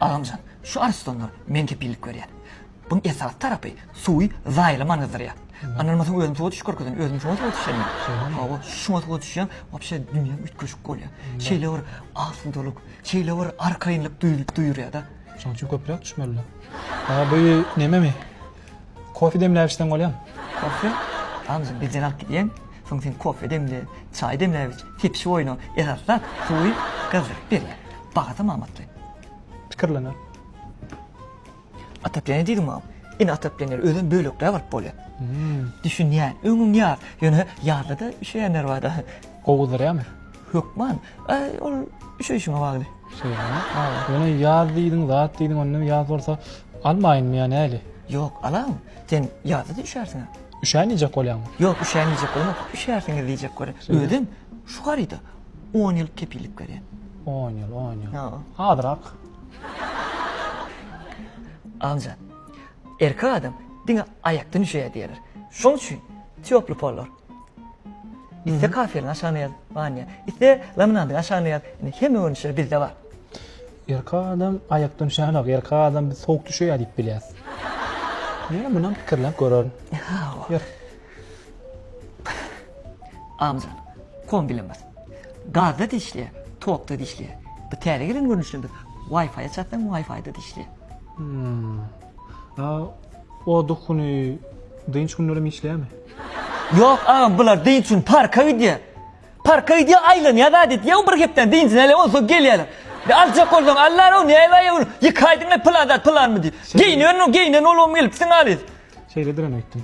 Agamjan, şu arslanlar men kepillik berýän. Buň esasy tarapy suwy zaýalaman gyzdyrýar. Ynanmasaň özüni suwa düşüp görkezen, özümi şoňa suwa düşýän men. Hawa, şuňa suwa düşýän, wapşe dünýäm üýtgeşik bolýar. Şeýle bir asudalyk, şeýle bir arkaýynlyk duýulyp duýurýada. Şoň üçin köpräk düşmeli. Aa bu nememi? Kofe demläp içseň bolýar. Kofe? Anja birden alyp gidýäň. Soň sen kofe demle, çaý demläp iç. Tepişip oýna. Esasy zat, suwy gyzdyryp berýär. Bahasam amatly. Pikirlener. Otopleniýe diýdiňmi? Ine otopleniýe özem bölekräk alyp bolýar. Düşünýän. Öňüň ýaz. Ýöne ýazda-da üşeýänler bar-da. Gowy gyzdyrýarmy? Hökman, aý, ol üşeýşiňe bagly. Şeýdemi? Hawa. Ýöne ýaz diýdiň, zat diýdiň, onda ýaz bolsa almaýynmy ýa näli? Ýok, alaň. Sen ýazda-da üşärsiň-ä. Üşän iýjek bolýaňmy? Ýok, üşän iýjek bolanok, üşärsiňiz diýjek bolýan. Şeýdemi? Özem şu haryda on ýyl kepillik berýän. On ýyl, on ýyl. Hawa. Azrak. Agamjan, erkek adam diňe aýakdan üşeýär diýerler. Şonuň üçin týoply pollar. Iste kafirin aşagyna ýaz, Wanya. Iste laminandyň aşagyna ýaz. Indi hemme görnüşleri bizde bar. Erkak adam aýakdan düşenok, erkak adam biz sowuk düşeýär diýip bilýäs. Ýöne munam pikirlenip görerin. Ýör. Amjan. Kombilen bas. Gazda-da işleýär, tokda-da işleýär. Bu täze gelen görnüşini biz Wi-Fi-a çatsaň, Wi-Fi-da-da işleýär. A o duk güni dynç günlerem işleýärmi? Ýok agam bular dynç üçin parka gidýär. Parka gidýär aýlanýar zat etýär o bir hepdäniň dynjyny alýar onsoň ýa gelýärler. Ýa aljak bolsaň alýar o näme aýa gün ýeke aýdan ýa pylan zat pylanmy diýip. Geýnen o geýnen bolubam gelipsiň halys. Şeýledirem öýtdüm.